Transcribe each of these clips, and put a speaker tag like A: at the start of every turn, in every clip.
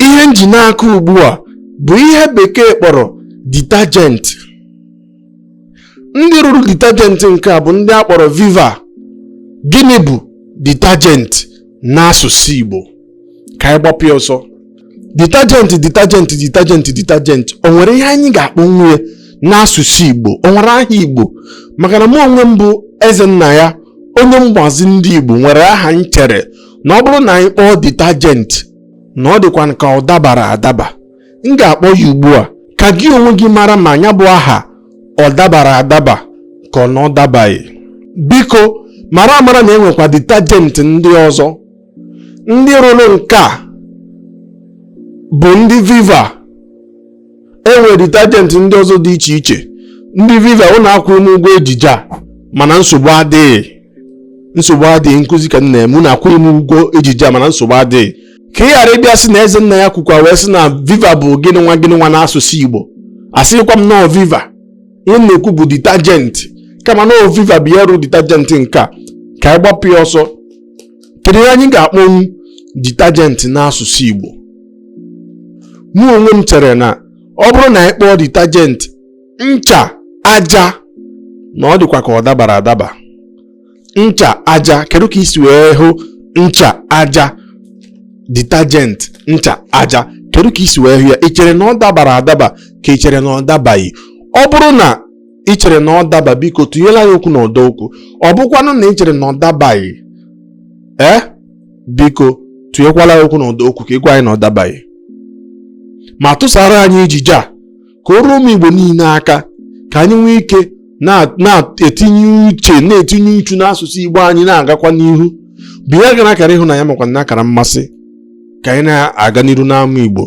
A: ihe m ji n'aka ugbu a bụ ihe bekee kpọrọ detergent ndị rụrụ detergent nke a bụ ndị a kpọrọ viva gịnị bụ detergent n'asụsụ igbo ka anyị gbapụ ya ọsọ detergent detergent detergent detergent o nwere ihe anyị ga-akpọnwu ya n'asụsụ igbo o nwere aha igbo maka na mụ onwe m bụ ezennaya onye mgbazi ndị igbo nwere aha m chere na ọ bụrụ na anyị kpọọ detergent na ọ dịkwa ka ọ dabara adaba m ga-akpọ ya ugbu a ka gị onwe gị mara ma ya bụ aha ọ dabara adaba ka ọ na ọ dabaghị biko mara amara na e nwekwa detergent ndị ọzọ ndị rụrụ nke a bụ ndị viva e nwere detergent ndị ọzọ dị iche iche ndị viva unu akwụghị m ụgwọ ejije a mana nsogbu adịghị nsogbu adịghị nkụzi ka m na-eme unu akwụghị m ụgwọ ejije a mana nsogbu adịghị ka ị ghara ịbịa sị na ezennaya kwukwa wee sị na viva bụ gịnị nwa gịnị nwa n'asụsụ igbo asịkwa m na ọ viva ihe m na-ekwu bụ detergent kama na viva bụ ya rụ detergent nke a ka anyị gbapụ ya ọsọ kedu ihe anyị ga-akpọnwu detergent n'asụsụ igbo mụ onwe m chere na ọ bụrụ na anyị kpọọ detergent ncha aja na ọ dịkwa ka ọ dabara adaba ncha aja kedu ka i si wee hụ ncha aja detergent ncha aja kedu ka i si wee hụ ya ị chere na ọ dabara adaba ka ị chere na ọ dabaghị ọ bụrụ na ị chere na ọ daba biko tụnyela anyị okwu n'ọdọ okwu ọ bụkwanụ na ị chere na ọ dabaghị ee eh? biko tụnyekwala anyị okwu n'ọdọ okwu ka ị gwa anyị na ọ dabaghị ma tụsara anyị ejije a ka o ruo ụmụ Igbo niile aka ka anyị nwee ike na-etinye uche na-etinye uchu n'asụsụ Igbo anyị na-agakwa n'ihu binyegara akara ịhụnanya makwa na akara mmasị ka anyị na-aga n'iru n'ama Igbo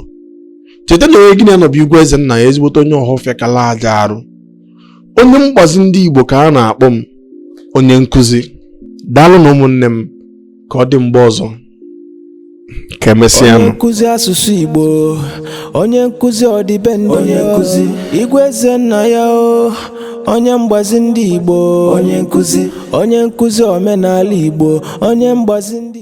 A: cheta na onye gị na ya nọ bụ igwe ezennaya ezigbote onye ọhafịa kala aja arụ onye mgbazi ndị Igbo ka a na-akpọ m onye nkụzi daalụnụ ụmụnne m ka ọ dị mgbe ọzọ ka e mesịa onye nkụzi
B: asụsụ igbo onye nkụzi ọdịbendị onye nkụzi igwe ezennaya o onye mgbazi ndị igbo onye nkụzi onye nkụzi omenala igbo onye mgbazi ndị